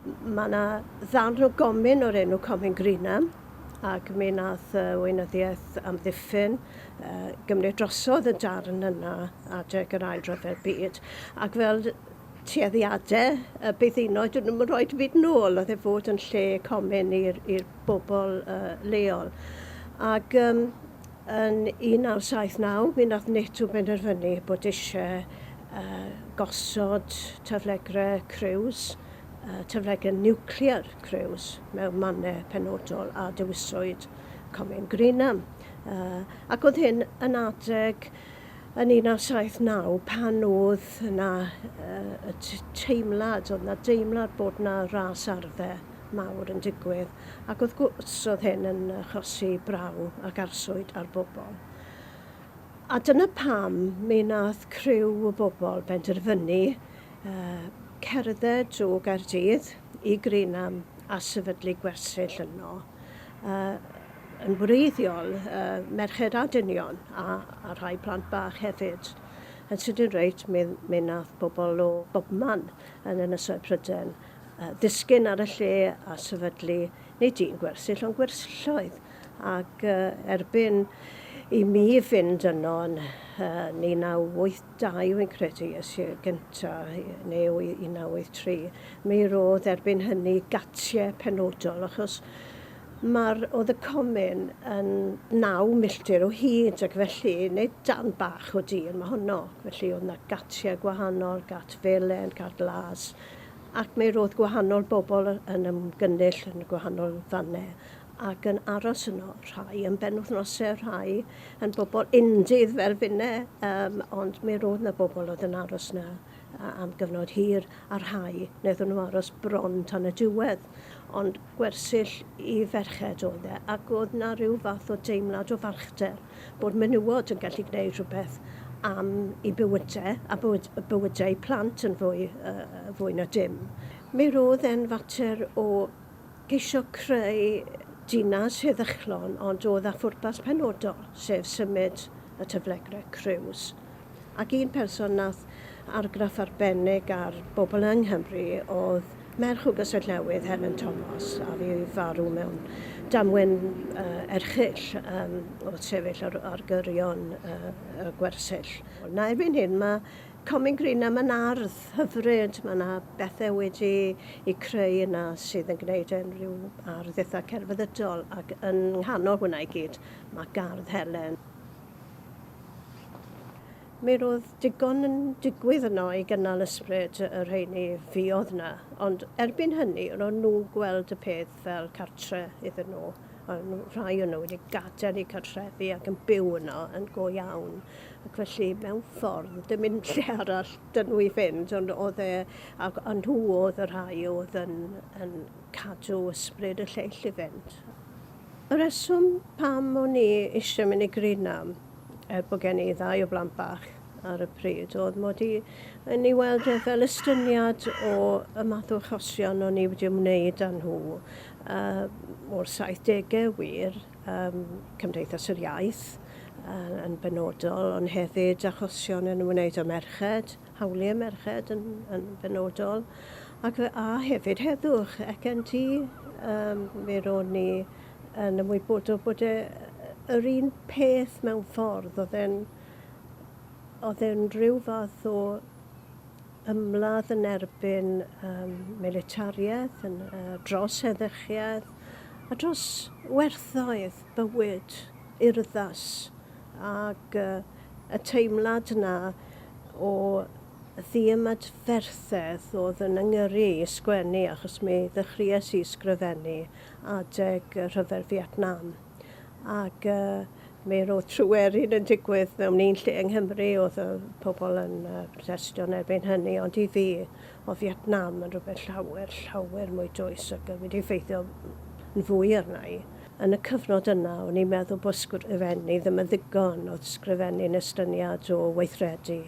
Mae yna ddarn o gomin o'r enw Comin Greenham ac mi nath uh, weinyddiaeth amddiffyn uh, gymryd drosodd y darn yna adeg yr ail rhyfel byd ac fel tueddiadau y byddinoedd, dyn nhw'n rhoi byd nôl, oedd e fod yn lle comin i'r bobl uh, leol. Ac um, Yn 1979 mi nath NATO benderfynu bod eisie gosod taflegre criws, taflegre niwclear criws, mewn mannau penodol a dewiswyd Comin Greenham. Ac oedd hyn yn adeg yn 1979 pan oedd 'na teimlad, oedd 'na deimlad bod 'na ras arfau mawr yn digwydd. ac wrth gwrs roedd hyn yn achosi braw ac arswyd ar bobl. A dyna pam mi wnaeth criw o bobl benderfynu cerdded o Gaerdydd i Greenham a sefydlu gwersyll yno. Yn wreiddiol merched a dynion a rhai plant bach hefyd. Yn sydyn reit mi wnaeth bobl o bobman yn Ynysoedd Prydain ddisgyn ar y lle a sefydlu, nid un gwersyll, ond gwersylloedd, ac erbyn i mi fynd yno yn 1982, wi'n credu, es i'r gyntaf, neu 1983, mi roedd erbyn hynny gatiau penodol, achos mae'r, oedd y comin yn naw milltir o hyd, ac felly, nid darn bach o dir, mae honno, felly oedd 'na gatiau gwahanol, gat felen, cat las, Ac mi roedd gwahanol bobl yn ymgynnull yn y gwahanol fannau ac yn aros yno, rhai yn benwythnosau, rhai yn bobl undydd fel finne, um, ond mi roedd na bobl oedd yn aros na am gyfnod hir, a rhai wnaethon nhw aros bron tan y diwedd. Ond gwersyll i ferched oedd e, ac oedd na rhyw fath o deimlad o falchder bod menywod yn gallu gwneud rhywbeth am eu bywydau a bywyd, bywydau eu plant yn fwy, uh, fwy na dim. Mi roedd e'n fater o geisio creu dinas heddychlon ond oedd â phwrpas penodol, sef symud y tyflegrau criws Ac un person wnaeth argraff arbennig ar bobl yng Nghymru oedd merch o Gastell Newydd, Helen Thomas, a fu farw mewn damwain erchyll wrth sefyll ar gyrion y gwersyll. Na, erbyn hyn mae Comin Greenham yn ardd hyfryd, mae 'na bethau wedi'u creu yna sydd yn gwneud e'n rhyw ardd eitha' celfyddydol ac yng nghanol hwnna i gyd mae gardd Helen. Mi roedd digon yn digwydd yno i gynnal ysbryd y rheiny fuodd 'na, ond erbyn hynny ro'n nhw'n gweld y peth fel cartre iddyn nhw, ro'n nhw, rhai o nhw wedi gadael eu cartrefi ac yn byw yno yn go iawn, ac felly mewn ffordd dim un lle arall 'da nhw i fynd, ond oedd e, a nhw oedd y rhai oedd yn yn cadw ysbryd y lleill i fynd. Y rheswm pam o'n i eisiau mynd i Greenham, er bod gen i ddau o blant bach ar y pryd, oedd mod i yn ei weld e fel estyniad o y math o achosion o'n i wedi ymwneud â nhw uh, o'r 70au wir, um, Cymdeithas yr Iaith uh, yn benodol, ond hefyd achosion yn ymwneud â merched, hawliau merched yn yn benodol ac fe a hefyd heddwch ECNT um, fe ro'n ni yn ymwybodol bod e yr un peth mewn ffordd oedd e'n oedd e'n rhyw fath o ymladd yn erbyn um, militariaeth, yn, uh, dros heddychiaeth a dros werthoedd bywyd urddas Ac y teimlad 'na o ddiymadferthedd o'dd yn 'y ngyrru i i sgwennu achos mi ddechrues i sgrifennu adeg y Rhyfel Fietnam ac mi ro'dd Tryweryn yn digwydd mewn un lle yng Nghymru o'dd y pobol yn protestio yn erbyn hynny ond i fi o'dd Fietnam yn rwbeth llawer llawer mwy dwys ac wedi effeithio yn fwy arna i. Yn y cyfnod yna, o'n i'n meddwl bod sgrifennu ddim yn ddigon, oedd sgrifennu'n estyniad o weithredu.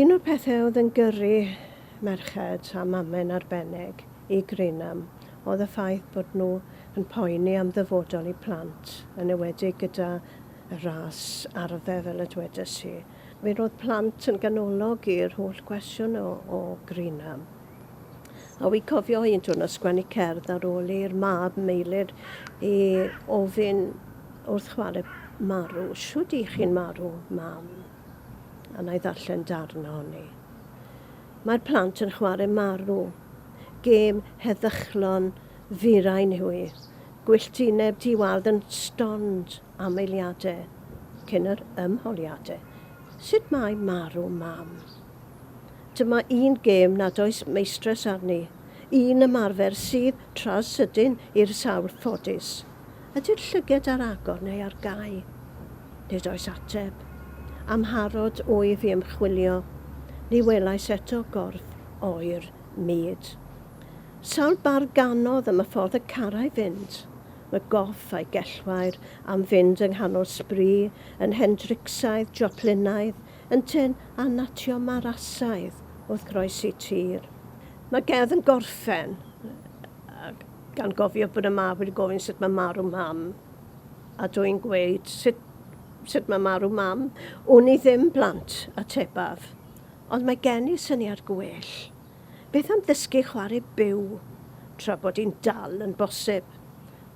Un o'r pethau oedd yn gyrru merched, a mamen'n arbennig, i Greenham oedd y ffaith bod nhw yn poeni am ddyfodol eu plant, yn enwedig gyda ras arfer fel y dwedais i. Mi roedd plant yn ganolog i'r holl gwestiwn o Greenham. A wi cofio un diwrnod sgwennu cerdd ar ôl i'r mab Meilir i ofyn wrth chwarae marw, shwd i chi'n marw, mam? A na i ddarllen darn ohoni. Mae'r plant yn chwarae marw. Gêm heddychlon firain yw hi. Gwylltineb di-wawd yn stond. Amheuliadau cyn yr ymholiadau. Sut mae marw Mam? Dyma un gêm nad oes meistress arni, un ymarfer sydd tra sydyn i'r sawl ffodus. Ydy'r llyged ar agor neu ar gau? Nid oes ateb. Amharod wyf i ymchwilio, ni welais eto gorff oer mud. Sawl bardd ganodd am y ffordd y carai fynd? Mae goff a'i gellwair am fynd yng nghanol sbri, yn Hendricsaidd, Joplinaidd, yntyn, a natio Marasaidd, wrth groesi tir. Mae Gedd yn gorffen gan gofio bod y mab wedi gofyn sut mae marw mam, a dw i'n gweud, sut, sut mae marw mam? Wn i ddim, blant, atebaf. Ond mae gen i syniad gwell. Beth am ddysgu chwarae byw tra bod hi'n dal yn bosib?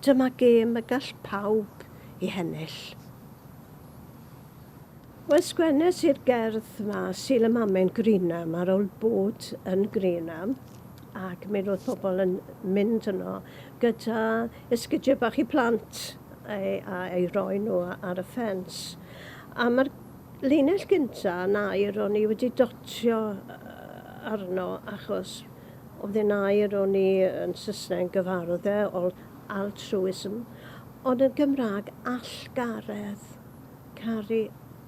Dyma gêm y gall pawb i hennill. Wel, sgwennes i'r gerdd 'ma, Sul y Mamen Greenham, ar ol bod yn Greenham, ac mi roedd pobl yn mynd yno gyda esgidiau bach i plant, a eu rhoi nhw ar y ffens. A mae'r Llinell gynta yn air o'n i wedi dotio arno achos oedd e'n air o'n i yn Sysneg yn gyfarwdd e ol altruism ond yn Gymraeg allgaredd, caru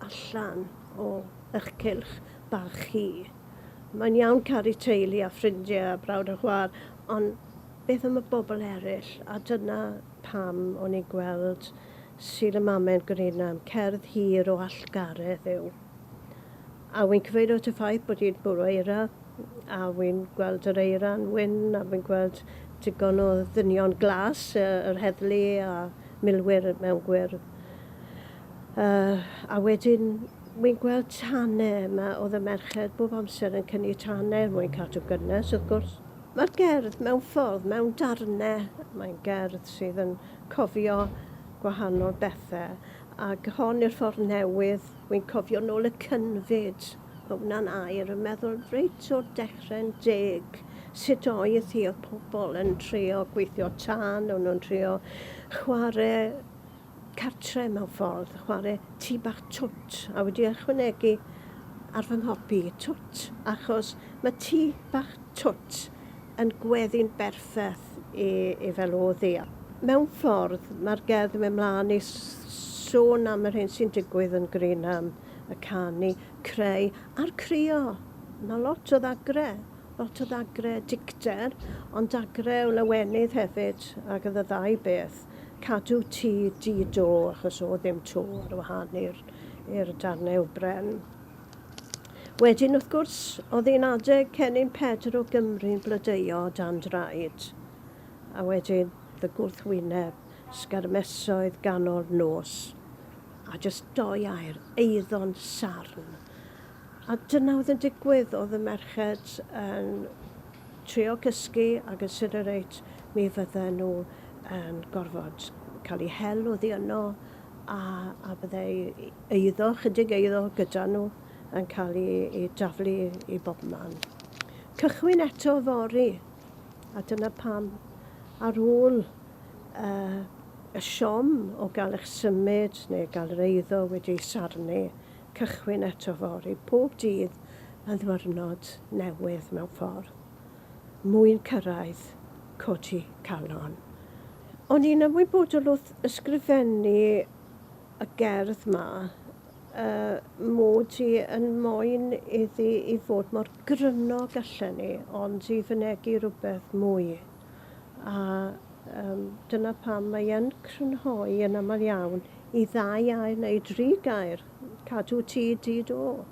allan o ych cylch bach chi. Mae'n iawn caru teulu a ffrindie a brawd a chwa'r ond beth am y bobl eryll a dyna pam o'n i'n gweld Sydd y Mamen Greenham, cerdd hir o allgaredd yw. A wy'n cyfeirio at y ffaith bod hi'n bwrw eira, a wy'n gweld yr eira'n wyn, a wy'n gweld digon o ddynion glas, yr heddlu a milwyr mewn gwyrdd. Uh, a wedyn, wy'n gweld tane yma, oedd y merched bob amser yn cynnu tane er mwyn cadw gynnes, wrth gwrs. Mae'r gerdd mewn ffordd, mewn darnau, mae'n gerdd sydd yn cofio gwahanol bethe ag hon i'r ffordd newydd wi'n cofio nôl y cynfyd o wna'n air yn meddwl reit o'r dechre'n deg sut oedd hi oedd pobl yn trio gweithio tân o'n nhw'n trio chware cartre mewn ffordd chware tŷ bach twt a wedi ychwanegu ar fy nghopi twt achos mae tŷ bach twt yn gweddu'n berffeth beth i i feloddi. Mewn ffordd, mae'r gerdd yn mynd mlaen i sôn am yr hyn sy'n digwydd yn Greenham, y canu, creu a'r crio. Mae lot o ddagre, lot o ddagre dicter, ond dagre o lawenydd hefyd, ac oedd y ddau beth. Cadw tŷ di do, achos oedd ddim to ar wahân i'r i'r darnau o bren. Wedyn, wrth gwrs, oedd hi'n adeg cennin Pedr o Gymru'n blodeuo o dan draed. A wedyn, fy gwrthwyneb, sgarmesoedd ganol nos. A jyst doi air, eiddo'n sarn. A dyna oedd yn digwydd, oedd y merched yn trio cysgu ac yn siwr o reit mi fydden nhw yn gorfod cael eu hel oddi yno a, a byddai eiddo, chydig eiddo gyda nhw yn cael ei, ei daflu i bob man. Cychwyn eto fori, a dyna pam ar ôl uh, y siom o gael eich symud neu gael yr eiddo wedi ei sarnu, cychwyn eto fori, pob dydd yn ddwyrnod newydd mewn ffordd. mwyn cyrraedd codi calon. O'n i'n ymwybodol wrth ysgrifennu y gerdd 'ma y mod i yn moyn iddi i fod mor gryno gallen i, ond i fynegi rhywbeth mwy. A um, dyna pam mae yn crynhoi yn aml iawn i ddau air neu dri gair, cadw ti di do.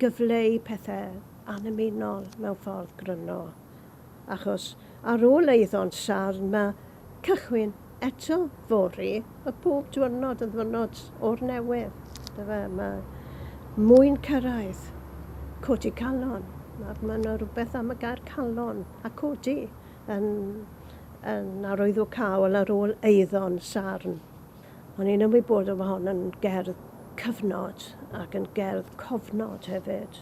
gyfleu pethau annymunol mewn ffordd gryno, achos ar ôl eiddo'n sarn mae cychwyn eto fory a pob diwrnod yn ddiwrnod o'r newydd, yndyfe? Mae mwyn cyrraedd, codi calon, mae 'na rywbeth am y gair calon a codi yn arwyddo cawl ar ôl eiddo'n sarn. O'n i'n ymwybodol bod hon yn gerdd cyfnod ac yn gerdd cofnod hefyd.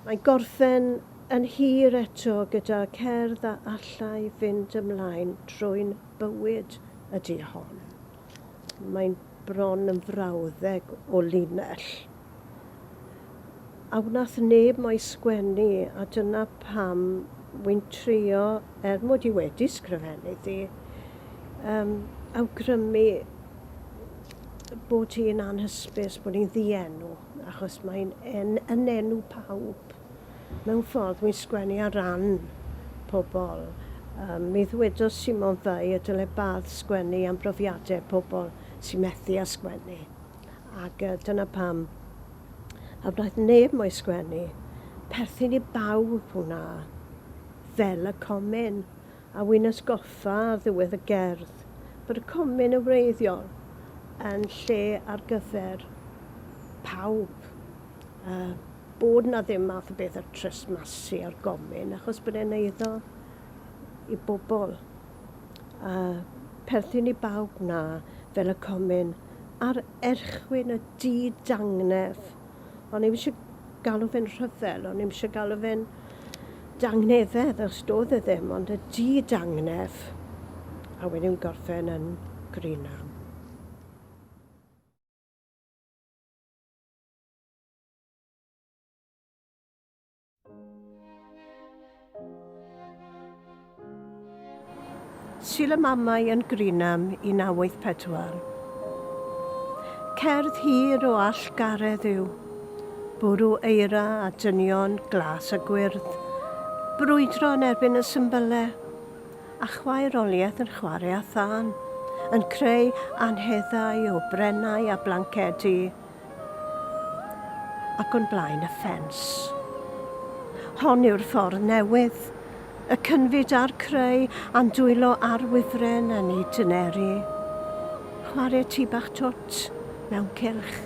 Mae'n gorffen yn hir eto gyda cerdd a allai fynd ymlaen trwy'n bywyd ydy hon. Mae'n bron yn frawddeg o linell. a wnaeth neb mo'i sgwennu a dyna pam wy'n trio, er mod i wedi sgrifennu di, um, awgrymu bod hi'n anhysbys bod hi'n ddienw, achos mae'n en, yn enw pawb. Mewn ffordd, wy'n sgwennu ar ran pobl. Um, mi ddwedodd Simon Fay y dyle Bath sgwennu am brofiadau pobl sy'n methu â sgwennu. Ac uh, dyna pam. A wnaeth neb mo'i sgwennu. Perthyn i bawb hwnna. Fel y comin. A wy'n ysgoffa ar ddiwedd y gerdd bod y comin yn wreiddiol yn lle ar gyfer pawb. Uh, bod na ddim math o beth ar tresmasu ar gomin achos bod e'n eiddo i bobl. A perthyn i bawb na fel y comin. ar erchwyn y di-dangnef. O'n i'm eisiau galw fe'n rhyfel, o'n i'm eisiau galw fe'n dangnefedd, os doedd e ddim, ond y di-dangnef. A wedyn gorffen yn Greenham. Sul y Mamau yn Greenham 1984. Cerdd hir o allgaredd yw bwrw eira a dynion glas a gwyrdd, brwydro yn erbyn y symbylau, a chwaeroliaeth yn chwarae â thân, yn creu anheddau o brennau a blancedi, ac o'n blaen y ffens. Hon yw'r ffordd newydd, y cynfyd a'r creu a'n dwylo ar wifren yn ei dyneru. Chwarae tŷ bach twt mewn cylch.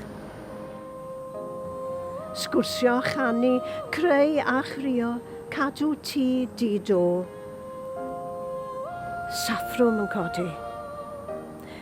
Sgwrsio a chanu, creu a chrio, cadw tŷ di do. Saffrwm yn codi.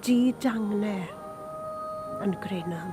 Dy dangne yn grinam.